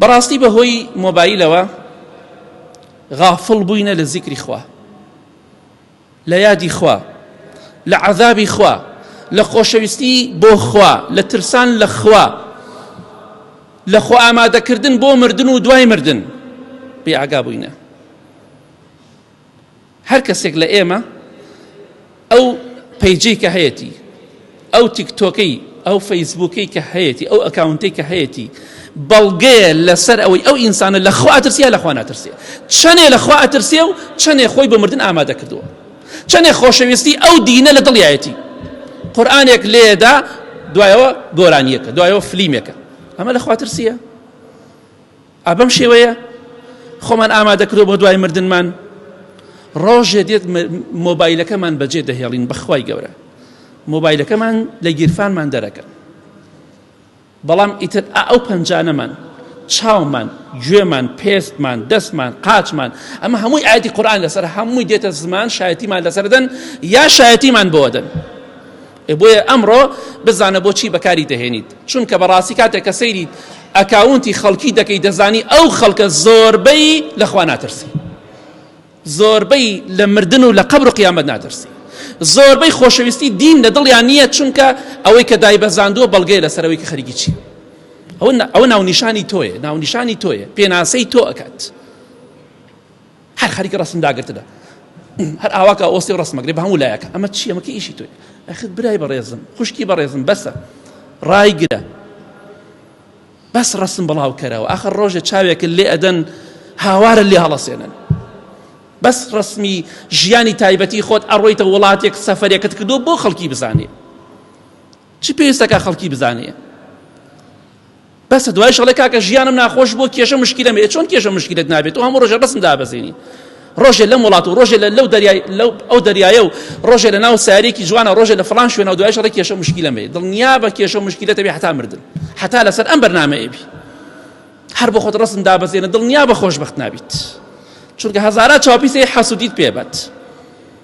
بەڕاستی بەهۆی مۆبایلەوە غافڵ بووینە لە زیکری خوا لە یادی خوا لە عەذابی خوا لە خۆشەویستی بۆ خوا لە ترسان لە خوا لە خۆ ئامادەکردن بۆ مردن و دوای مردن بێ ئاگا بووینە هەر کەسێک لە ئێمە ئەو پەیجەی کە هەیەتی ئەو تیکتۆکەی ئەو فەیسبووکەی کە هەیەتی ئەو ئەکاونتەی کە هەیەتی بەڵگەیە لەسەر ئەوەی ئەو ئینسانە لە خوا ئەترسیە لە خوا ناترسێ چەنێ لە خوا ئەترسێ و چەنێ خۆی بە مردن ئامادە کردووە چەنێ خۆشەویستی ئەو دینە لە دڵیایەتی قورآانێک لێدا دوایەوە گۆرانیەکە دوایەوە فلیمێکە ئەمە لە خواترسیە ئا بەم شێوەیە خۆمان ئامادەکرۆ بۆ دوای مردنمان ڕۆژێ دێت مۆبایلەکەمان بەجێ دەهێڵین بەخوای گەورە مۆبایلەکەمان لە گیرفانمان دەرەکەن بەڵام ئیتر ئەو پەنجانەمان چاومان گوێمان پێستمان دەستمان قاچمان ئەمە هەمووی ئاەتی قورآان لەسەر هەمووی دێتە زمان شایەتیمان لەسەردەن یا شایەتیمان بۆدەن بۆیە ئەمڕۆ بزانە بۆچی بەکاری دەهێنیت چونکە بەڕاستی کاتێک کە سەیری ئەکاونتی خەڵکی دەکەی دەزانی ئەو خەڵکە زۆربەی لەخوا ناترسی زۆربەی لە مردن و لە قەبر و قیامەت ناترسی زۆربەی خۆشەویستی دین لە دڵیان نییە چونکە ئەوەی کە دای بەزاندووە بەڵگەیە لەسەرەوەی کە خەریکی چی ئەوە ناونیشانی تۆیە ناونیشانی تۆیە پێناسەی تۆ ئەکات هەر خەریکە ڕەسم داگرتنە هەر ئاوا کا ئۆستی ڕسمەک لێ بە هەموو لایەکە ئەمە چیە مەکە ئیشی توی ئەخت برای بەڕێزم خوشکی بەڕێزم بەسە ڕایگرە بەس ڕسم بڵاو کەرەوە ئاخە ڕۆژە چاوێکە لێ ئەدەن هاوارە لێ هەڵەسێنن بەس ڕسمی ژیانی تایبەتی خۆت ئەڕۆیتە وڵاتێک سەفرێکت کردو بۆ خەڵکی بزانێ چی پێویستەکە خەڵکی بزانێ بەسە دوای شەڵێ کاکە ژیانم ناخۆش بۆ کێشە مشکیلە مێ چۆن کێشە مشکلت نابێت و هەموو ڕۆژە ڕسم دابەزینی ڕۆژێ لەم وڵات و ڕۆژێ لە لەو دەریای لەو ئەو دەریایە و ڕۆژێ لە ناو سارێکی جوانە ڕۆژێ لە فلان شوێنەوە دوای شەڕی کێشە مشکیلە مێ دڵنیا بە کێشە مشکلەتە بێ حتا مردن حتا لەسەر ئەم بەرنمەیەبی هەر بۆ خۆت ڕسم دابەزێنە دڵنیا بە خۆشببخت نابیت چونکە هەزارە چاپیسی حەسودیت پێبەت